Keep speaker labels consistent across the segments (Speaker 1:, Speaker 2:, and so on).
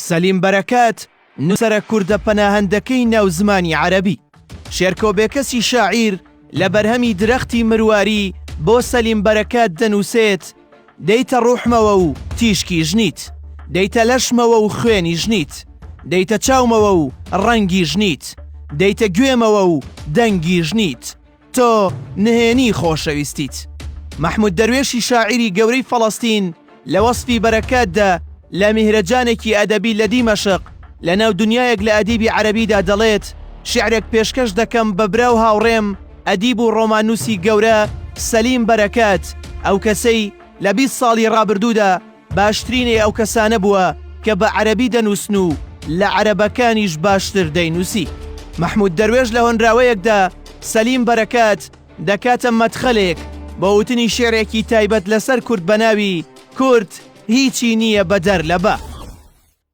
Speaker 1: سەلیم بەرەکات، نووسەرە کوردە پەناهەندەکەی ناو زمانی عەرەبی. شێرکۆ بێکەسی شاعیر لە بەرهەمی درەختی مرواری بۆ سەلیم بەرەکات دەنووسێت، دێیتە ڕووحمەوە و تیشکیش نیت، دێیتە لەشمەوە و خوێنیش نیت، دێیتە چاومەوە و ڕەنگیش نیت، دێیتە گوێمەوە و دەنگیش نیت، تۆ نهێنی خۆشەویستیت. مەحمود دەروێشی شاعیری گەورەی فەڵەستین لە وەسفی بەرەکاتدا لە میهرەجانێکی ئەدەبی لە دیمەشق لەناو دنیایەک لە ئەدیبی عەرەبیدا دەڵێت، شیعرێک پێشکەش دەکەم بە برا و هاوڕێم ئەدیب و ڕۆماننووسی گەورە سەلیم بەرەکات، ئەو کەسەی لە بیست ساڵی ڕابردوودا، باشترینی ئەو کەسانە بووە کە بە عەرەبی دەنووسن و لە عەرەبەکانیش باشتر دەینووسی. مەحموود دەروێش لە هۆنراوەیەکدا سەلیم بەرەکات دەکاتە مەدخەلێک بۆ وتنی شیعرێکی تایبەت لەسەر کورد بە ناوی کورد هیچی نییە بەدەر لە بە.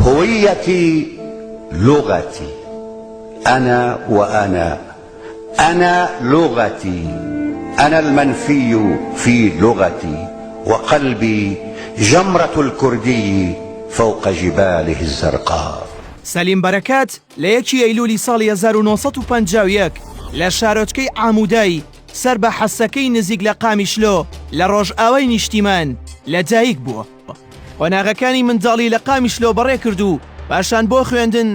Speaker 2: هویتی لغتی، انا و انا، انا لغتی، انا المنفی فی لغتی و قلبی جمرة الکردی فوق جباله الزرقاء. سەلیم بەرەکەت
Speaker 1: لە یەکی ئەیلوولی ساڵی هەزار و نۆ سەد و پەنجا و یەک لە شارۆچکەی عاموودای سەر بە حەسەکەی نزیک لە قامیشلۆ لە ڕۆژئاوای نیشتیمان لە دایک بووە. قۆناغەکانی منداڵی لە قامیشلۆ بەڕێ کرد و پاشان بۆ خوێندن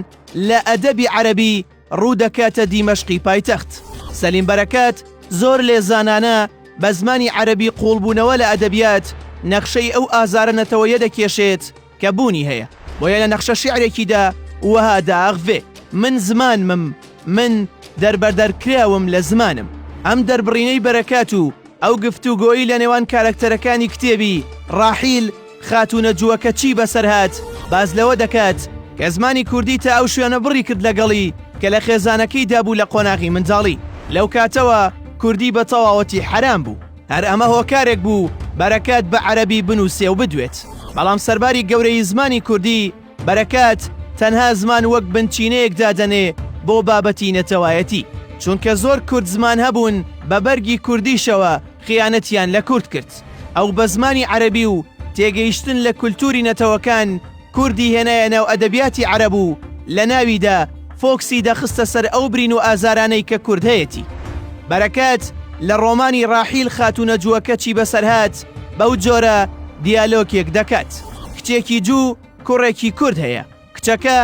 Speaker 1: لە ئەدەبی عەرەبی ڕوو دەکاتە دیمەشقی پایتەخت. سەلیم بەرەکات زۆر لێزانانە بە زمانی عەرەبی قووڵبوونەوە لە ئەدەبیات نەخشەی ئەو ئازارە نەتەوەیە دەکێشێت کە بوونی هەیە، بۆیە لە نەخشە شیعرێکیدا وەها دائەخڤێ. من زمانمم، من دەربەدەرکراوم لە زمانم. ئەم دەربڕینەی بەرەکات و، ئەو گفتوگۆی لە نێوان کارەکتەرەکانی کتێبی، ڕاحیل، خاتوونە جووەکە چی بەسەر هات، باس لەوە دەکات، کە زمانی کوردی تا ئەو شوێنە بڕی کرد لەگەڵی، کە لە خێزانەکەیدا بوو لە قۆناغی منداڵی. لەو کاتەوە کوردی بە تەواوەتی حەرام بوو. هەر ئەمە هۆکارێک بوو بەرەکات بە عەرەبی بنووسێ و بدوێت. بەڵام سەرباری گەورەیی زمانی کوردی، بەرەکات تەنها زمان وەک بنچینەیەک دادەنێ بۆ بابەتی نەتەوایەتی، چونکە زۆر کورد زمان هەبوون بە بەرگی کوردیشەوە خیانەتیان لە کورد کرد، ئەو بە زمانی عەرەبی و تێگەیشتن لە کولتووری نەتەوەکان کوردی هێنایە ناو ئەدەبیاتی عەرەب و لە ناویدا فۆکسی دەخستە سەر ئەو برین و ئازارانەی کە کورد هەیەتی. بەرەکات لە ڕۆمانی ڕاحیل خاتوونە جووەکە چی بەسەرهات بەو جۆرە دیالۆکێک دەکات. کچێکی جوو و کوڕێکی کورد هەیە، کچەکە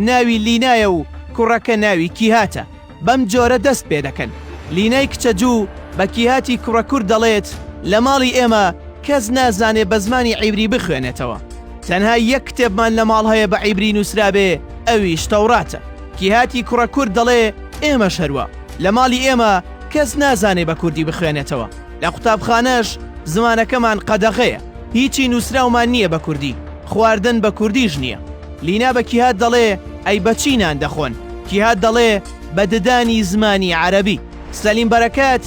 Speaker 1: ناوی لینایە و کوڕەکە ناوی کیهاتە، بەم جۆرە دەست پێ دەکەن، لینای کچە جوو بە کیهاتی کوڕە کورد دەڵێت، لە ماڵی ئێمە کەس نازانێ بە زمانی عیبری بخوێنێتەوە، تەنها یەک کتێبمان لە ماڵ هەیە بە عیبری نووسرابێ ئەویش تەوڕاتە، کیهاتی کوڕە کورد دەڵێ، ئێمەش هەروا، لە ماڵی ئێمە کەس نازانێ بە کوردی بخوێنێتەوە. لە قوتابخانەش زمانەکەمان قەدەغەیە، هیچی نووسراومان نییە بە کوردی، خواردن بە کوردیش نییە. لینا بە کیهات دەڵێ ئەی بە چی نان دەخۆن؟ کیهات دەڵێ بە ددانی زمانی عەرەبی. سەلیم بەرەکەت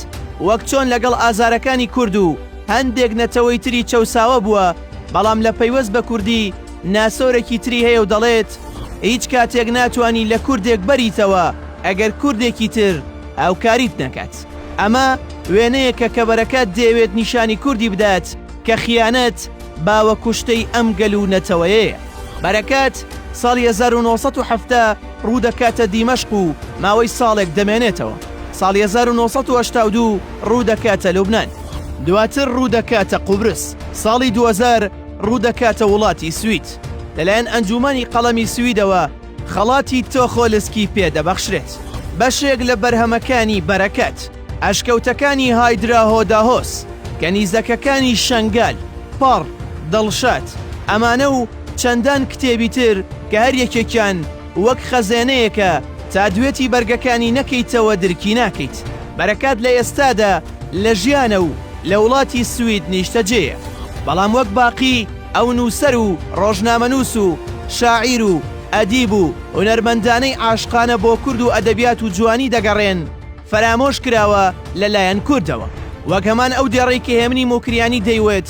Speaker 1: وەک چۆن لەگەڵ ئازارەکانی کورد و هەندێک نەتەوەی تری چەوساوە بووە، بەڵام لە پەیوەست بە کوردی ناسۆرێکی تری هەیە و دەڵێت هیچ کاتێک ناتوانی لە کوردێک بەریتەوە ئەگەر کوردێکی تر هاوکاریت نەکات. ئەمە وێنەیەکە کە بەرەکە دەیەوێت نیشانی کوردی بدات کە خیانەت باوە کوشتەی ئەم گەل و نەتەوەیەیە. بەرەکەت ساڵی هەزار و نۆ سەد و حەفتا ڕوودەکاتە دیمەشق و ماوەی ساڵێک دەمێنێتەوە، ساڵی هەزار و نۆ سەد و هەشتا و دوو ڕوودەکاتە لوبنان، دواتر ڕوودەکاتە قوبرس، ساڵی دوو هەزار ڕوودەکاتە وڵاتی سوید لەلایەن ئەنجوومەنی قەڵەمی سویدەوە، خەڵاتی تۆخۆلسکی پێ دەبەخشرێت. بەشێک لە بەرهەمەکانی بەرەکەت، ئەشکەوتەکانی هایدراهۆداهۆس، کەنیزەکەکانی شەنگال، پەڕ، دڵشاد، ئەمانە و چەندان کتێبی تر کە هەر یەکێکیان وەک خەزێنەیەکە تا دوێتی بەرگەکانی نەکەیتەوە درکی ناکەیت. بەرەکەت لە ئێستادا لە ژیانە و لە وڵاتی سوید نیشتەجێیە، بەڵام وەک باقی، ئەو نووسەر و ڕۆژنامەنووس و شاعیر و ئەدیب و هونەرمەندانەی عاشقانە بۆ کورد و ئەدەبیات و جوانی دەگەڕێن، فەرامۆش کراوە لە لایەن کوردەوە. وەک هەمان ئەو دێڕەی کە هێمنی موکریانی دەیوت،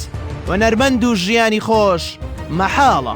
Speaker 1: هونەرمەند و ژیانی خۆش مەحاڵە.